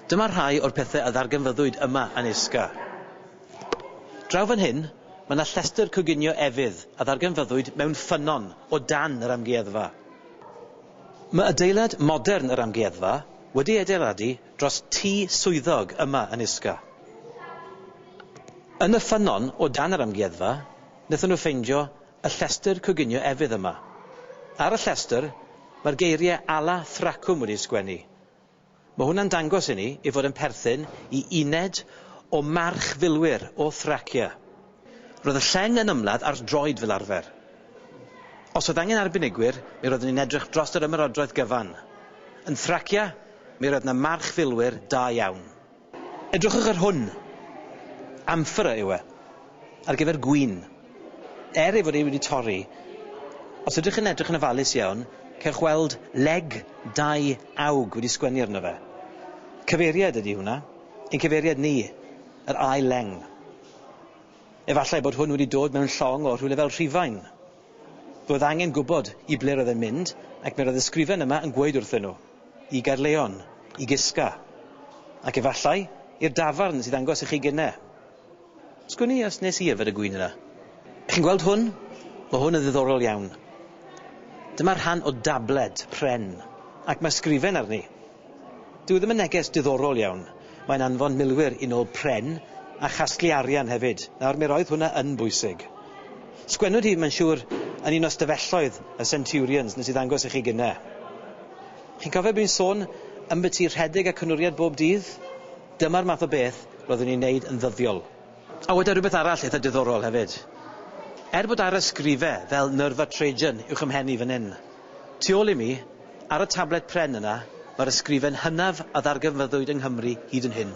Dyma rhai o'r pethau a ddarganfyddwyd yma yn Isca. Draw fan hyn, mae yna llestr coginio efydd a ddarganfyddwyd mewn ffynnon o dan yr amgueddfa. Mae adeilad modern yr amgueddfa wedi ei adeiladu dros tŷ swyddog yma yn Isca. Yn y ffynnon o dan yr amgueddfa, Wnaethon nhw ffeindio y llestr coginio efydd yma. Ar y llestr, mae'r geiriau Ala Thracwm wedi'u sgwennu. Mae hwnna'n dangos i ni ei fod yn perthyn i uned o march filwyr o Thracia. Roedd y lleng yn ymladd ar droed fel arfer. Os oedd angen arbenigwyr, mi roeddwn i'n edrych dros yr ymerodraeth gyfan. Yn Thracia, mi roedd 'na march filwyr da iawn. Edrychwch ar hwn. Amphora yw e. Ar gyfer gwin. Er ei fod e wedi torri, os ydych yn edrych yn ofalus iawn, cewch weld leg dau awg wedi sgwennu arno fe. Cyfeiriad ydy hwnna. Ein cyfeiriad ni. Yr ail leng. Efallai bod hwn wedi dod mewn llong o rhywle fel Rhufain. Roedd angen gwybod i ble roedd e'n mynd, ac mi roedd y sgrifen yma yn gweud wrthyn nhw, i Gaerleon, i Gisca, ac efallai, i'r dafarn sydd ddangos i chi gynne. Sgwn i os nes i yfed y gŵyn yna. Chi'n gweld hwn? Mae hwn yn ddiddorol iawn. Dyma rhan o dabled pren, ac mae sgrifen arni. Dyw e ddim yn neges diddorol iawn. Mae'n anfon milwyr i nôl pren a chasglu arian hefyd. Nawr, mi roedd hwnna yn bwysig. Sgwennwyd hi, mae'n siŵr, yn un o ystafelloedd y Centurions nes i ddangos i chi gynne. Chi'n cofio bod ni'n sôn ymbyti rhedeg a cynwriad bob dydd? Dyma'r math o beth roeddwn i'n neud yn ddyddiol. A weda rhywbeth arall eitha diddorol hefyd. Er bod arysgrife fel Nerva Trajan uwch 'y mhen i fan 'yn, Tu ôl i mi, ar y tablet pren yna, mae'r ysgrifen hynaf a ddarganfyddwyd yng Nghymru hyd yn hyn.